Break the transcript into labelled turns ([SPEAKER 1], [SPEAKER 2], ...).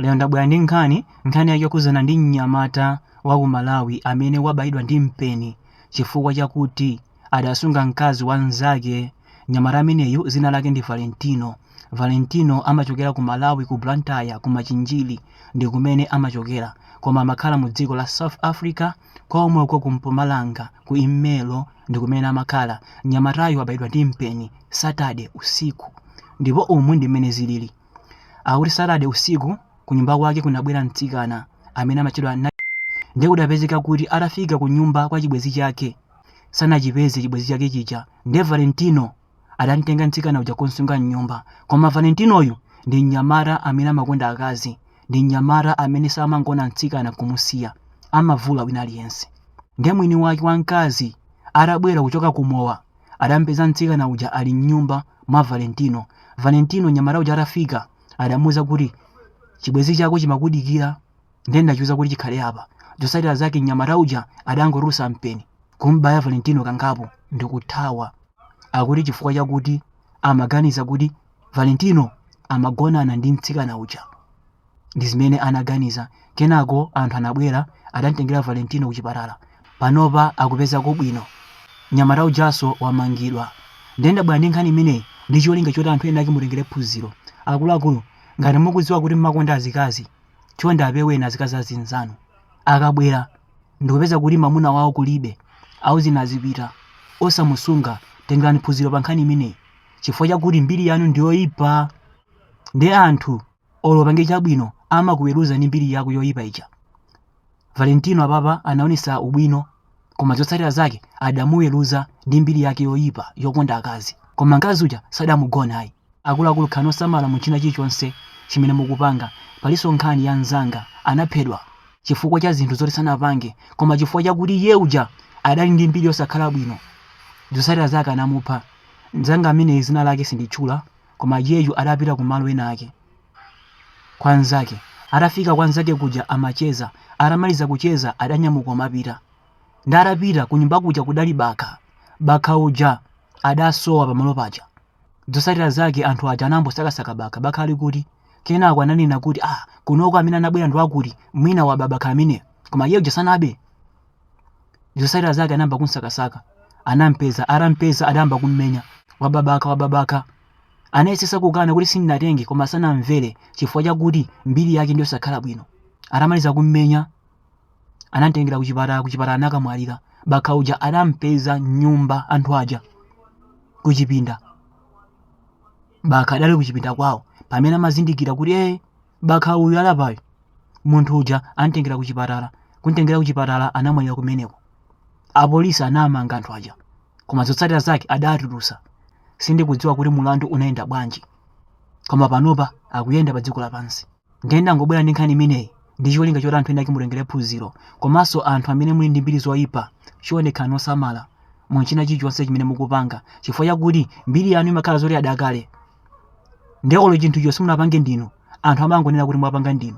[SPEAKER 1] Lero ndabwera ndi nkhani, nkhani yake yokhudzana ndi mnyamata wa ku Malawi amene wabayidwa ndi mpeni chifukwa chakuti adasunga mkazi wa mnzake. Mnyamata ameneyu dzina lake ndi Valentino. Valentino amachokera ku Malawi ku Blantyre ku Machinjiri ndi kumene amachokera koma amakhala mu dziko la South Africa komweko ku Mpumalanga ku Ermelo ndi kumene amakhala. Mnyamatayu wabayidwa ndi mpeni Saturday usiku ndipo umu ndi mmene zilili. Akuti Saturday usiku kunyumba kwake kunabwera mtsikana amene amatchedwa ndiye kudapezeka kuti atafika kunyumba kwa chibwenzi chake sanachipeze chibwenzi chake chija ndiye Valentino adamtenga mtsikana uja kumsunga mnyumba koma Valentinoyu ndi mnyamata amene amakonda akazi ndi mnyamata amene samangoona mtsikana kumusiya amavula wina aliyense ndiye mwini wake wa mkazi atabwera kuchoka kumowa adampeza mtsikana uja ali m'nyumba mwa Valentino. Valentino mnyamata uja atafika adamuuza kuti chibwenzi chako chimakudikira ndiye ndachiuza kuti chikhale apa. Zotsatira zake mnyamata uja adangotulutsa mpeni kumbaya Valentino kangapo ndikuthawa. Akuti chifukwa chakuti amaganiza kuti Valentino amagonana ndi mtsikana uja. Ndi zimene anaganiza. Kenako anthu anabwera, adamtengera Valentino kuchipatala. Panopa akupezako bwino. Mnyamata ujanso wamangidwa. Ndiye ndabwera ndi nkhani imeneyi ndi cholinga choti anthu ena ake mutengere phunziro. Akuluakulu, ngati mukudziwa kuti mumakonda azikazi, chonde apeweni azikazi azinzanu. Akabwera ndikupeza kuti mamuna wawo kulibe, auzeni azipita. Osamusunga. Tengerani phunziro pankhani imeneyi chifukwa chakuti mbiri yanu ndi yoipa. Ndiye anthu olo upange chabwino amakuweruza ndi mbiri yako yoyipa ija valentino apapa anaonesa ubwino koma zotsatira zake adamuweruza ndi mbiri yake yoyipa yokonda akazi koma mkazi uja sadamugona ayi akuluakulu khalani osamala mu china chilichonse chimene mukupanga palinso nkhani ya mzanga anaphedwa chifukwa cha zinthu zoti sanapange koma chifukwa chakuti iye uja adali ndi mbiri yosakhala bwino zotsatira zake anamupha mzanga amene dzina lake sinditchula Koma iyeyu adapita kumalo ena ake kwa nzake. Atafika kwa nzake kuja amacheza. Atamaliza kucheza adanyamuka amapita. Ndiye atapita kunyumba kuja kudali bakha. Bakha uja adasowa pamalo paja. Zotsatira zake anthu aja anambosakasaka bakha. Bakha ali kuti? Kenako ananena kuti ah kunoko amene anabwera ndi wakuti mwina waba bakha ameneyo. Koma iye uja sanabe. zotsatira zake anayamba kumsakasaka anampeza atampeza adayamba kummenya waba bakha waba bakha anayesetsa kukana kuti sindinatenge koma sanamvere chifukwa chakuti mbiri yake ndiyosakhala bwino atamaliza kummenya anamtengera kuchipatala kuchipatala anakamwalira bakha uja adampeza m'nyumba anthu aja kuchipinda bakha adali kuchipinda kwawo pamene amazindikira kuti ee bakha uyu alapayo munthu uja antengera kuchipatala kuntengera kuchipatala anamwalira kumeneko apolisi anamanga anthu aja koma zotsatira zake adatulusa sindikudziwa kuti mulandu unayenda bwanji koma panopa akuyenda pa dziko lapansi ndiye ndangobwera ndi nkhani imeneyi ndi cholinga choti anthu enaake mutengere phunziro komanso anthu amene muli ndi mbiri zoyipa chionekani osamala mu china chilichonse chimene mukupanga chifukwa chakuti mbiri yanu imakhala yoti idakale ndiye olo chinthucho simunapange ndinu anthu amangonena kuti mwapanga ndinu.